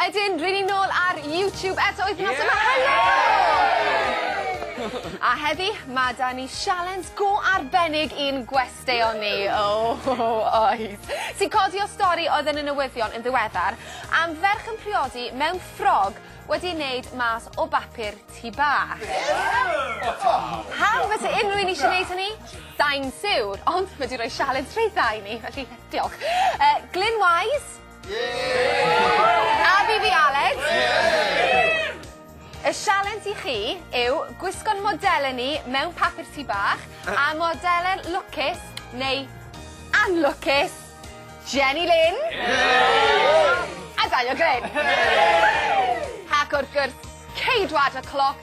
Ydyn, ry'n ni nôl ar YouTube eto wythnos yma. Helo! A heddi, ma' 'da ni sialens go arbennig i'n gwesteion ni. O, oes. Sy'n codi o stori oedd yn y newyddion yn ddiweddar am ferch yn priodi mewn ffrog wedi ei wneud mas o bapur tŷ bach. Pam fyse unrhyw un eisiau gwneud hynny? Sai'n siwr, ond mae 'di rhoi sialens rhydd dda i ni, felly diolch. Yy, Glyn Wise, A fi fi Aled. Y sialens i chi yw gwisgo'n modelen ni mewn papur tŷ bach a modelen lwcus neu anlwcus Jenny Lynn a Daniel Greg. Ac wrth gwrs Ceidwad y Cloc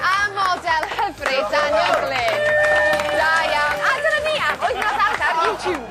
A model hyfryd Daniel Glyn. Da iawn. A dyna ni am Wythnos Adar YouTube.